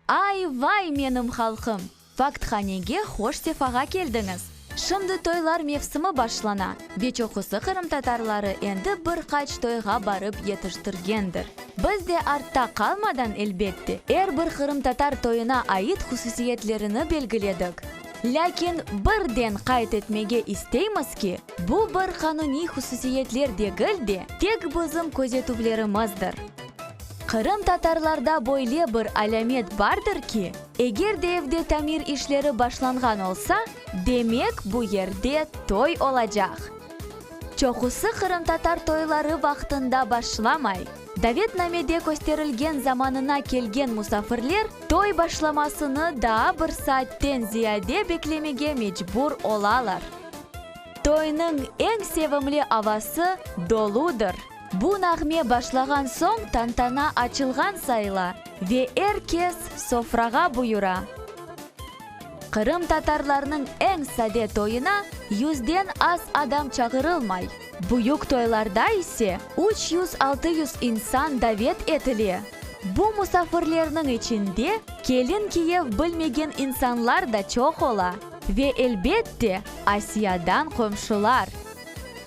Ay, vay, menim halqım! Fakthanege hoş sefağa keldiñiz! Şimdi toylar mevsimi başlana, ve çoqusı qırımtatarları endi bir qaç toyğa barıp yetiştirgendir. Biz de artta qalmadan, elbette, er bir qırımtatar toyuna ait hususiyetlerini belgiledik. Lâkin birden qayd etmege isteymiz ki, Bu bir qanuniy hususiyetler degil de, tek bizim közetüvlerimizdir. Qırımtatarlarda böyle bir alâmet bardır ki, eger de evde tamir işleri başlanğan olsa, demek, bu yerde toy olacaq. Çoqusı qırımtatar toyları vaqtında başlamay, davetnamede kösterilgen zamanına kelgen musafirler toy başlamasını daa bir saatten ziyade beklemege mecbur olalar. Toynıñ eñ sevimli avası doludır. Bu nağme başlağan soñ tantana açılğan sayıla ve er kes sofrağa buyura. Qırımtatarlarnıñ eñ sade toyuna yüzden az adam çağırılmay. Büyük toylarda ise üç yüz-altı yüz insan davet etile. Bu musafirlerniñ içinde kelin kiyev bilmegen insanlar da çoq ola. Ve, elbet de, Asiyadan qomşular.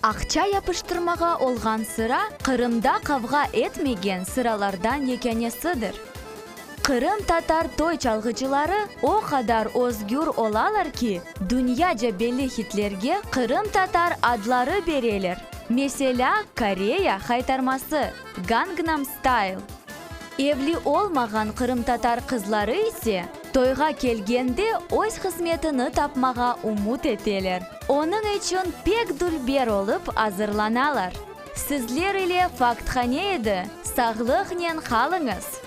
Aqça yapıştırmağa olğan sıra Qırımda qavğa etmegen sıralardan yekânesidir. Qırımtatar toy çalğıcıları o qadar özgür olalar ki, dünyaca belli hitlerge qırımtatar adları bereler, meselâ, Koreya haytarması, Gangnam Style. Evli olmağan qırımtatar qızları ise, Toyğa kelgende öz hızmetini tapmağa umut eteler. Onıñ içün pek dülber olıp azırlanalar. Sizler ile Fakthane edi, sağlıqnen qalıñız!